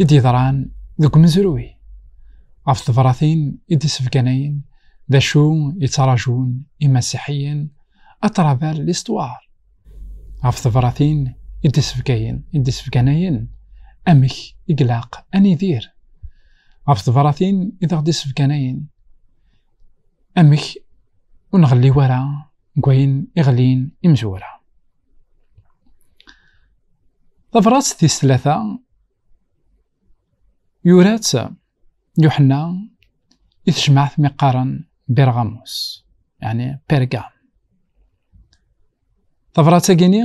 i d-yeḍran deg umezruy ɣef tebratin i d-issebganayen d acu yettṛajun imasiḥiyen à travers l'histoire ɣef tebratin i d-issebgayen i d-issebganayen amek i ilaq ad nidir ɣef tebratin i d-aɣ-d-issebganayen amek ur nɣelli ara deg wayen iɣlin imezwura Tabrat tis tlata yura-tt Yuḥenna i tejmaɛt mi qqaren Birɣamus, yani Pergam. Tabrat-agini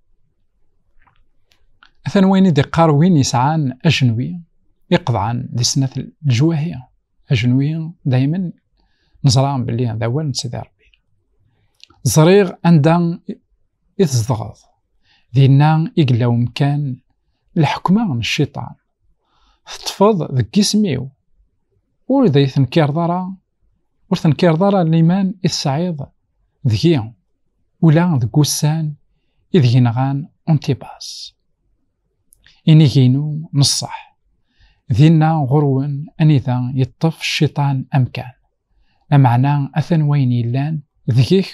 Atan wayen i d-iqqar win yesɛan ajenwi iqeḍɛen di snat lejwahi. Ajenwi dayma neẓra belli d awal n Sidi Rebbi. Ẓriɣ anda i tzedɣeḍ, dinna i yella umkan leḥkma n cciṭan. Teṭṭfeḍ deg isem-iw, ur d ay tenkireḍ ara Ur tenkireḍ ara liman i tesɛiḍ deg-i, ula deg wussan ideg nɣan Antipas. Inig-inu n ṣṣeḥ, dinna ɣur-wen anida yeṭṭef cciṭan amkan, lameɛna atan wayen yellan deg-k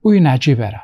ur yi-neɛǧib ara.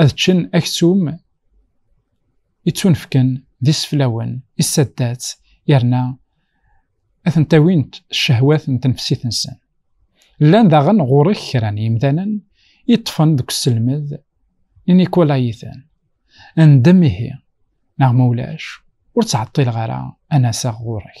ad ččen aksum ittunefken d iseflawen issaddat yerna ad tent-awint ccehwat n tenfsit-nsen. Llan daɣen ɣur-k kra n yimdanen i ṭṭfen deg uselmed n Nikolayiten. Ndem ihi, neɣ ma ulac, ur ttɛeṭṭileɣ ara ad n-aseɣ ɣur-k.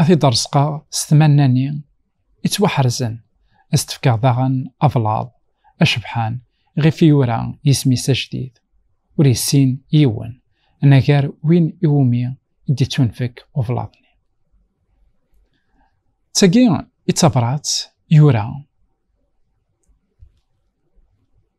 A t-id-reṣqeɣ s tmanna-nni ittwaḥerzen, a s-d-fkeɣ daɣen ablaḍ acebḥan iɣef i yura yisem-is ajdid, ur yessin yiwen anagar win iwumi i d-ittunfek ublaḍ-nni. D tagi i d tabrat yura.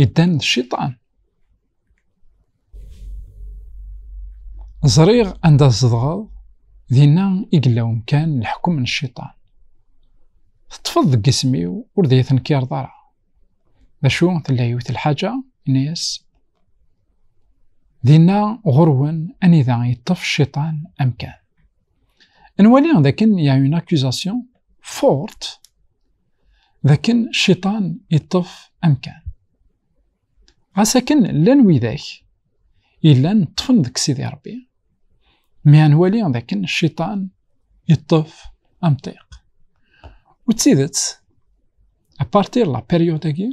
yeddan d cciṭan ẓriɣ anda tzedɣeḍ dinna i yella umkan leḥkem n cciṭan teṭṭfeḍ deg isem-iw ur d iyi-tenkireḍ ara d acu tella yiwet lḥaǧa ini-as dinna ɣurwen anida yeṭṭef cciṭan amkan nwali dakken ya une accusation forte dakken cciṭan yeṭṭef amkan. Ɣas akken llan widak yellan ṭṭfen deg Sidi Rebbi, mi ad nwali dakken cciṭan yeṭṭef amṭiq. U d tidet, apartir la période-agi,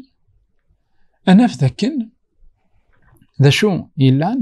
ad naf dakken d acu yellan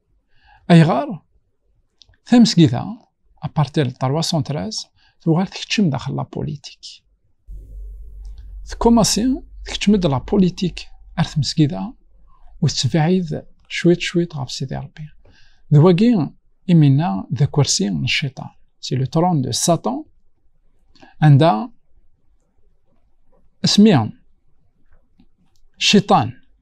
ayɣer tamesgida apartir de 313 tuɣal tekcem daxel la politik tkomasi tekcem-d la politik ar tmesgida u tettbeɛid cwiṭ cwiṭ ɣef sidi rebbi d wagi imina d akersi n cciṭan si le tron de satan anda asmi cciṭan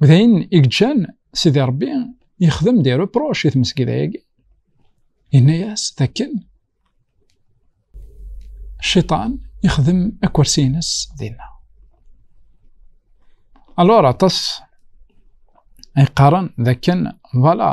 U d ayen i gǧan Sidi Ṛebbi yexdem di reproche i tmesgida-agi. Yenna-yas d akken cciṭan yexdem akersi-ines dinna. Alors aṭas ay qqaren d akken vala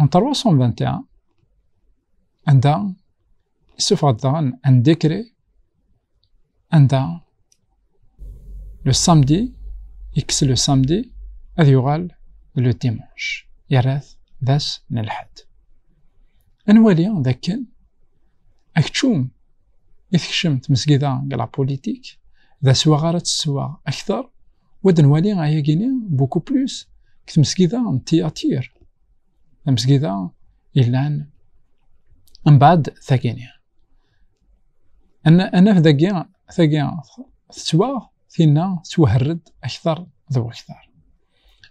En 321, anda isuffeɣ-d daɣen un décret anda le samedi yekkes le samedi ad yuɣal le dimanche yerra-t d ass n lḥedd ad nwali d akken akeččum i tekcem tmesgida deg la politique d aswaɣ ara teswaɣ akteṛ Wa d-nwali ayagi-ni buku plus deg tmesgida n Tiyatir, tamesgida yellan mbaɛd tagini. Anaf dagi, tagi tettwaɣ, tinna tettwaherred aktar d waktar.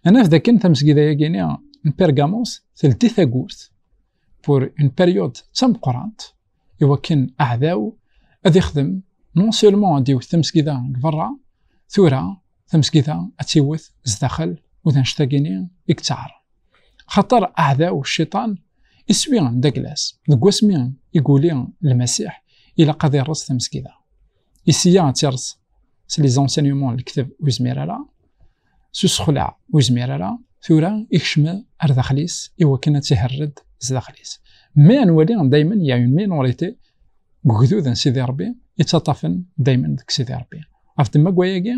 Anaf dakken tamesgida-yagini n Pergamos teldi tagurt pour une période d tameqqrant i wakken aɛdaw ad ixdem non seulement ad iwet tamesgida deg berra, tura tamesgida ad tiwet zdaxel u d annect-agini i yettaɛren. Axaṭer aɛdaw, cciṭan, iswi d aglas, deg wasmi i guli Lmasiḥ ilaq ad ireṣ tamesgida. I sya ad tireṣ s les enseignements n Lekteb ur yezmir ara s usexleɛ ur yezmir ara tura ikcem ar daxel-is iwakken ad tiherred zdaxel-is mais ad nwali daymen ya une minorité deg ugdud n Sidi Rebbi yettaṭṭafen daymen deg Sidi Rebbi ɣef ddemma n wayagi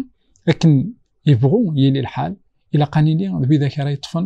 akken yebɣu yili lḥal ilaq ad nili d widak ara yeṭṭfen